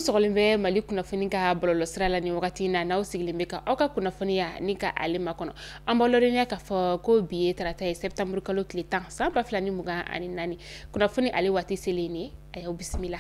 sɔgɔlen bɛ mali kunnafoni ka bɔlɔlɔ sira la ni wagati na n'aw sigilen bɛ ka aw ka kunnafoniya ni ka ale makɔnɔ an b'a lɔdɔniya k'a fɔ ko bi ye tarata ye sɛbtanburukalo tile tan san ba fila ni mugan ani naani kunnafoni ale waati selen ne a y'aw bisimila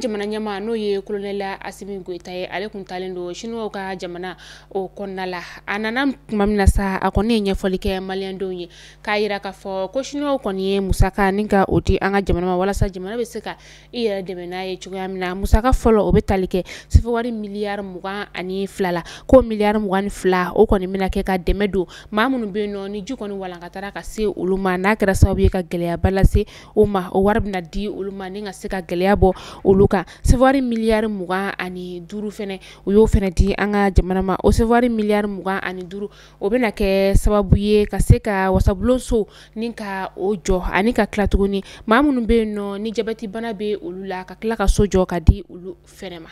jamana ɲɛmaa n'o ye kolonɛli asimi goyita ye ale tun taalen don sinuwaw ka jamana o kɔnɔna la a nana tuma min na sa a kɔni ye ɲɛfɔli kɛ maliyɛndenw ye k'a yira k'a fɔ ko sinuwaw kɔni ye musaka ni ka o di an ka jamana ma walasa jamana bɛ se ka i yɛrɛ dɛmɛ n'a ye cogoya min na musaka fɔlɔ o bɛ tali kɛ sefewari miliyari mugan ani fila la ko miliyari mugan ni fila o kɔni bɛna kɛ ka dɛmɛ don maa minnu bɛ yen nɔ ni ji kɔni walankatara ka se olu ma n'a kɛra sababu ye ka gɛlɛyaba lase o ma o wari bɛna di olu ma ni ka se ka gɛlɛya bɔ olu kan sefewari miliyari mugan ani duuru fɛnɛ u y'o fɛnɛ di an ka jamana ma o sefewari miliyari mugan ani duuru o bɛna kɛ sababu ye ka se ka wasabulonso ni ka o jɔ ani ka tila tuguni maa minnu bɛ yen nɔ ni jabɛti bana bɛ olu la ka tila ka so jɔ ka di olu fɛnɛ ma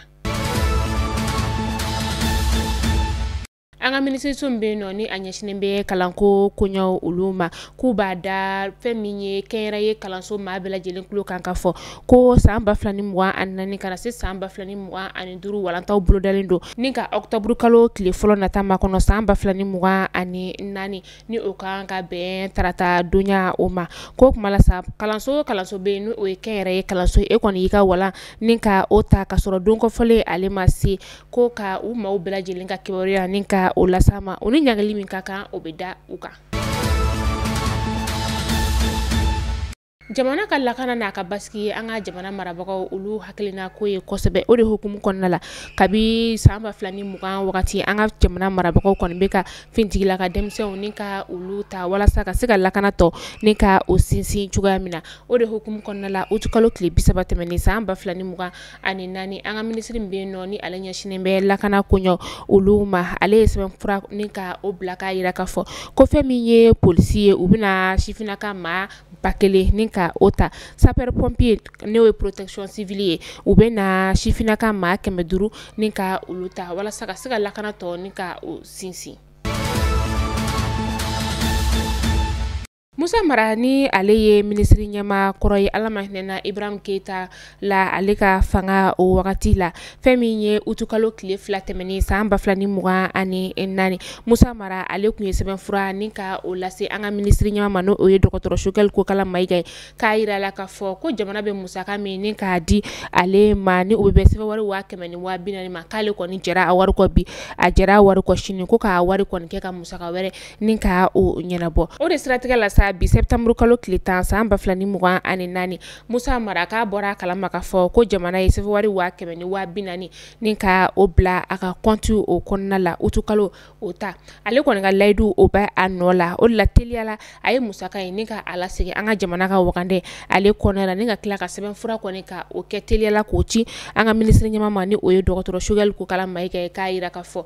an ka minisiriso min bɛ yen nɔ ni a ɲɛsinnen bɛ kalanko koɲɛw olu ma k'u b'a da fɛn min ye kɛnyɛrɛye kalanso maa bɛɛ lajɛlen tulo kan k'a fɔ ko san ba fila ni mugan ani naani ka na se san ba fila ni mugan ani duuru walantaw bolodalen don Ni ka ɔkutɔburukalo tile fɔlɔ nata makɔnɔ san ba fila ni mugan ani naani ni o kan ka bɛn tarata donya o ma ko tuma la sa kalanso o kalanso bɛ yen n' o ye kɛnyɛrɛye kalanso e kɔni y'i ka walan ni ka o ta ka sɔrɔ don kɔfɔlen ale ma se ko ka u maaw bɛɛ lajɛlen ka kibaruya ni ka o lase a ma u ni ɲangili min ka kan o bɛ da u kan jamana ka lakana n'a ka basigi ye an ka jamana marabagaw olu hakilina ko ye kosɛbɛ o de hukumu kɔnɔna la kabi san ba fila ni mugan wagati an ka jamana marabagaw kɔni bɛ ka fintigila ka denmisɛnw ni ka olu ta walasa ka se ka lakana tɔ ni ka o sinsin cogoya min na o de hukumu kɔnɔna la utu kalo tile bi saba tɛmɛnen san ba fila ni mugan ani naani an ka minisiri min bɛ yen nɔ ni ale ɲɛsinnen bɛ lakana koɲɛw olu ma ale ye sɛbɛnfura ni ka o bila k'a yira k'a fɔ ko fɛn min ye polisi ye u bɛna sifinnaka maa ba kelen ni ka o ta sapeurs pompiers n'o ye protection civile ye u bɛna sifinnaka maa kɛmɛ duuru ni ka olu ta walasa ka se ka lakana tɔ ni ka o sinsin. Musa Mara ni ale ye minisiri ɲɛmaa kɔrɔ ye Ala ma hinɛna Ibrahim Keyita la ale ka fanga o wagati la fɛn min ye utukalo tile fila tɛmɛnen san ba fila ni mugan ani naani musa mara ale tun ye sɛbɛn fura ni ka o lase an ka minisiri ɲɛmaa ma n'o ye dɔgɔtɔrɔ sogɛli kokala mayiga ye k'a yira la k'a fɔ ko jamana bɛ musaka min ni k'a di ale ma ni o bɛ bɛn sɛfɛwari waa kɛmɛ ni waa binaani ma k'ale kɔni jɛra a wari kɔ bi a jɛra a wari kɔ sini ko k'a wari kɔni kɛ ka musaka wɛrɛ ni ka o ɲɛnabɔ o de siratigɛ la sa bi sɛtanburukalo tile tan san ba fila ni mugan ani naani Musa Mara k'a bɔra a kalama k'a fɔ ko jamana ye sɛfɛwari 100 000 ni 40 000 ni ka o bila a ka compte o kɔnɔna la utikalo o ta ale kɔni ka layidu o bɛ a nɔ la o de la teliya la a ye musaka in ni ka a lasegin an ka jamana ka wagande ale kɔnɔna la ni ka tila ka sɛbɛn fura kɔni ka o kɛ teliya la k'o ci an ka minisiri ɲɛmaa ma ni o ye dɔgɔtɔrɔ Choguel Kokala Maiga ye k'a yira k'a fɔ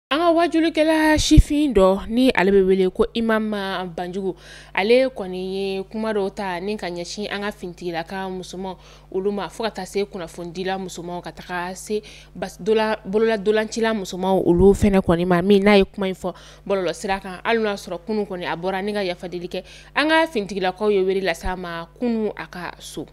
an ka wajulikɛla sifin dɔ ni ale bɛ wele ko imam banjugu ale kɔni ye kuma dɔw ta ni ka ɲɛsin an ka fintigilaka musomanw olu ma fo ka taa se kunnafonidila musomanw ka taga se bololantolacila musomanw olu fɛnɛ kɔni ma min n'a ye kuma in fɔ bɔlɔlɔ sira kan hali n'a sɔrɔ kunun kɔni a bɔra ni ka yafadeli kɛ an ka fintigilakaw ye wele lase a ma kunun a ka so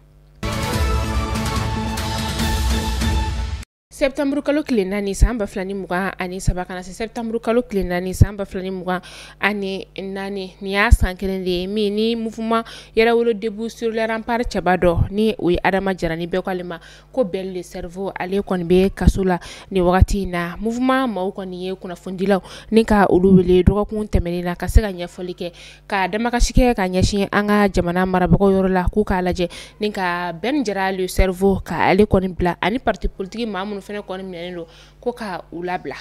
Sɛtanburu kalo tile naani san ba fila ni mugan ani saba ka na se sɛtanburu kalo tile naani san ba fila ni mugan ani naani nin y'a san kelen de ye min ni mouvement yɛrɛwolo debout sur les remparts cɛba dɔ ni o ye adama jara ni bɛɛ ko ale ma ko bɛn le cerveau ale kɔni bɛ kaso la ni wagati in na mouvement maaw kɔni ye kunnafonidilaw ni ka olu wele dɔgɔkun tɛmɛnen na ka se ka ɲɛfɔli kɛ ka damakasi kɛ ka ɲɛsin an ka jamana marabagaw yɔrɔ la k'u k'a lajɛ ni ka bɛn jara le cerveau ka ale kɔni bila ani parti politique maa minnu fɛnɛ kɔni minɛnen don ko ka u labila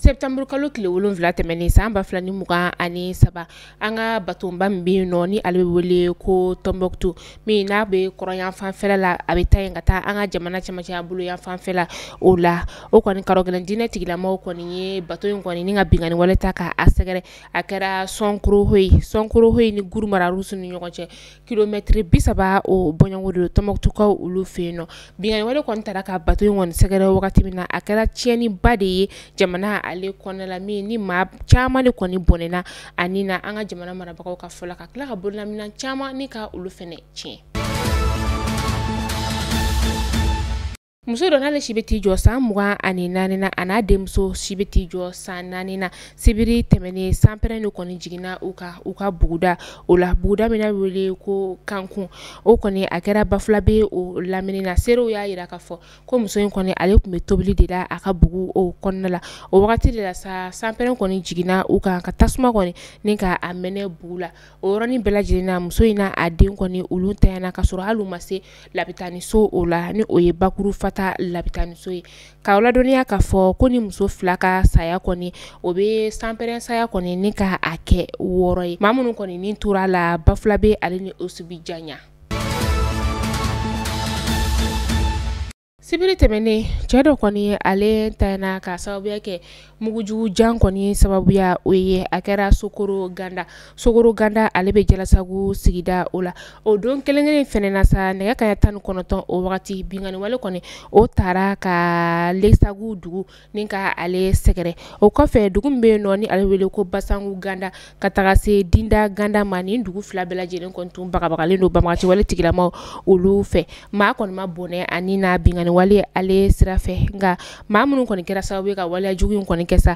septembre kalo tile wolonwula tɛmɛnen san ba fila ni mugan ani saba an ka batonba min bɛ yen nɔ ni ale bɛ wele ko tɔnbukutu min n'a bɛ kɔrɔn yanfan fɛ la a bɛ taa yen ka taa an ka jamana cɛmancɛ bolo yanfan fɛ la o la o kɔni karɔgɛlɛn diinɛ tigilamaaw kɔni ye bato in kɔni ni ka binkanni wale ta k'a sɛgɛrɛ a kɛra sɔnkorohoyi sɔnkorohoyi ni guruma rarusu ni ɲɔgɔn cɛ kilomɛtiri bi saba o bɔɲɔgɔnko de don tɔnbukutukaw olu fɛ yen nɔ binkanni wale kɔni taara ka bato in kɔni sɛgɛrɛ wagati min na a kɛra tiɲɛniba de ye jamana ale kɔnɔna la min ni maa caman de kɔni bɔnɛna a ni na an ka jamana marabagaw ka fɔ la ka tila ka bololaminɛn caman ni ka olu fɛnɛ tiɲɛ muso dɔ n'ale si bɛ t'i jɔ san mugan ani naani na a n'a denmuso si bɛ t'i jɔ san naani na sibiri tɛmɛnen sanpɛrɛn de kɔni jiginna u kan u ka buguda o la buguda min n'a wele ko kankun o kɔni a kɛra bafulabɛ o lamini na seerew y'a yira k'a fɔ ko muso in kɔni ale tun bɛ tobili de la a ka bugu o kɔnɔna la o wagati de la sa sanpɛrɛn kɔni jiginna u kan ka tasuma kɔni ni ka a mɛnɛ bugu la o yɔrɔnin bɛɛ lajɛlen na muso in n'a den kɔni olu tanyana ka sɔrɔ hali u ma se labitaniso o la ni o ye bakuru fata labitaniso ye k'aw ladɔnniya k'a fɔ ko nin muso fila ka saya kɔni o bɛ sanpɛrɛn saya kɔni ni ka a kɛ wɔɔrɔ ye maa minnu kɔni ni tora a la bafulabɛ ale ni osubijanya Sibiri tɛmɛnen cɛ dɔ kɔni ale tanyana ka sababuya kɛ mugujugu jan kɔni sababuya o ye a kɛra sokoro ganda sokoro ganda ale bɛ jalasagu sigida o la o don kelen kelen fɛnɛ na sa nɛgɛ kanɲɛ tan ni kɔnɔntɔn o wagati binkanni wale kɔni o taara ka lesagu dugu ni ka ale sɛgɛrɛ o kɔfɛ dugu min bɛ yen nɔ ni ale wele ko basanku ganda ka taga se dinda ganda ma ni dugu fila bɛɛ lajɛlen kɔni tun bagabagalen don banbaganci wale tigilamaa olu fɛ maa kɔni ma bɔnɛ a ni na binkanni wale ale sira fɛ nka maa minnu kɔni kɛra sababu ye ka waleya jugu in kɔni kɛ sa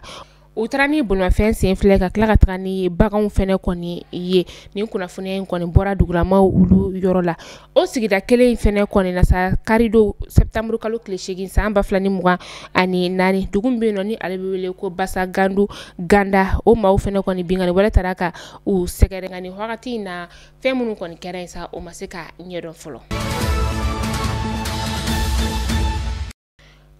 u taara ni bolimafɛn sen fila ka tila ka taga ni baganw fɛnɛ kɔni ye nin kunnafoniya in kɔni bɔra dugulamaa olu yɔrɔ la o sigida kelen in fɛnɛ kɔni na sa kari don septanburu kalo tile seegin san ba fila ni mugan ani naani dugu min bɛ yen nɔ ni ale bɛ wele ko basa gandu ganda o maaw fɛnɛ kɔni binkanni wale taara ka u sɛgɛrɛ nka nin wagati in na fɛn minnu kɔni kɛra yen sa o ma se ka ɲɛdɔn fɔlɔ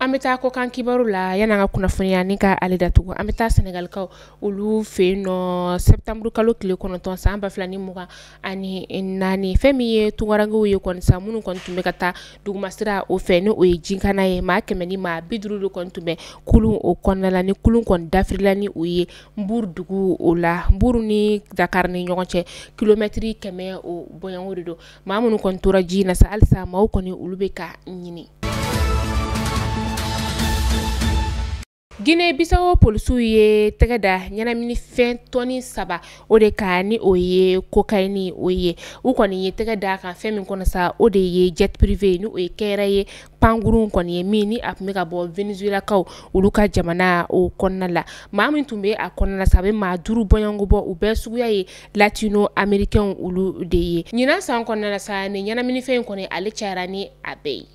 an bɛ taa kɔkan kibaru la yan'an ka kunnafoniya nin ka ale datugu an bɛ taa sɛnɛgalikaw olu fɛ yen nɔ septanburu kalo tile kɔnɔntɔn san ba fila ni mugan ani naani fɛn min ye tunkarankew ye kɔni sa minnu kɔni tun bɛ ka taa dugumasira o fɛ ni o ye jikana ye maa kɛmɛ ni maa bi duuru de kɔni tun bɛ kulun o kɔnɔna la nin kulun kɔni dafirila ni o ye nbuuru dugu o la nbuuru ni dakari ni ɲɔgɔn cɛ kilomɛtiri kɛmɛ o bɔɲɔgɔnko de don maa minnu kɔni tora ji na sa halisa maaw kɔni olu bɛ ka ɲini Guinée Bissau polisiw ye tɛgɛ da ɲɛnaminifɛn tɔni saba o de kan ni o ye kokayini o ye u kɔni ye tɛgɛ da a kan fɛn min kɔnɔ sa o de ye jet privé ni o ye kɛyɛrɛ ye pankurun kɔni ye min ni a tun bɛ ka bɔ venezuelakaw olu ka jamana o kɔnɔna la maa min tun bɛ a kɔnɔna la sa a bɛ maa duuru bɔɲɔgɔnko bɔ u bɛɛ suguya ye latino amerikɛnw olu de ye ɲinan san kɔnɔna la sa ni ɲɛnaminifɛn in kɔni ale cayara ni a bɛɛ ye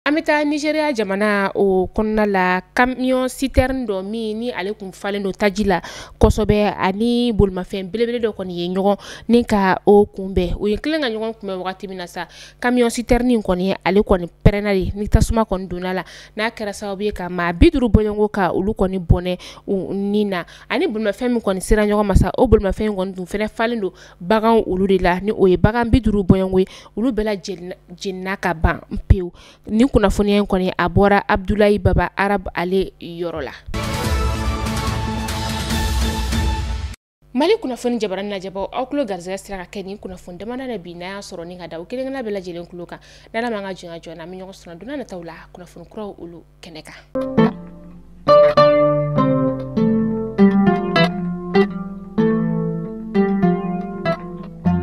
An bɛ taa Nizeriya jamana o kɔnɔna la camion citerne dɔ min ni ale tun falen don taji la kosɛbɛ ani bolimafɛn belebele dɔ kɔni ye ɲɔgɔn ni ka o kunbɛn u ye kelen ka ɲɔgɔn kunbɛn wagati min na sa camion citerne in kɔni ale kɔni pɛrɛnna de ni tasuma kɔni donna a la n'a kɛra sababu ye ka maa bi duuru bɔɲɔgɔnko ka olu kɔni bɔnɛ u ni na ani bolimafɛn min kɔni sera ɲɔgɔn ma sa o bolimafɛn in kɔni tun fɛnɛ falen don baganw olu de la ni o ye bagan bi duuru bɔɲɔgɔnko ye olu bɛɛ lajɛlen jenina ka ban pewu ni kunnafoniya in kɔni a bɔra abudulayi baba arabu ale yɔrɔ la mali kunnafoni jabaranin lajɛbaw aw tulo garisɛgɛ sera ka kɛ nin kunnafoni damadɔ in ye bi n'a y'a sɔrɔ ni k'a da aw kelenna bɛɛ lajɛlen tulo kan n'Ala m'an ka jɔnya jɔ an bɛ ɲɔgɔn sɔrɔ don nataw la kunnafoni kuraw olu kɛnɛ kan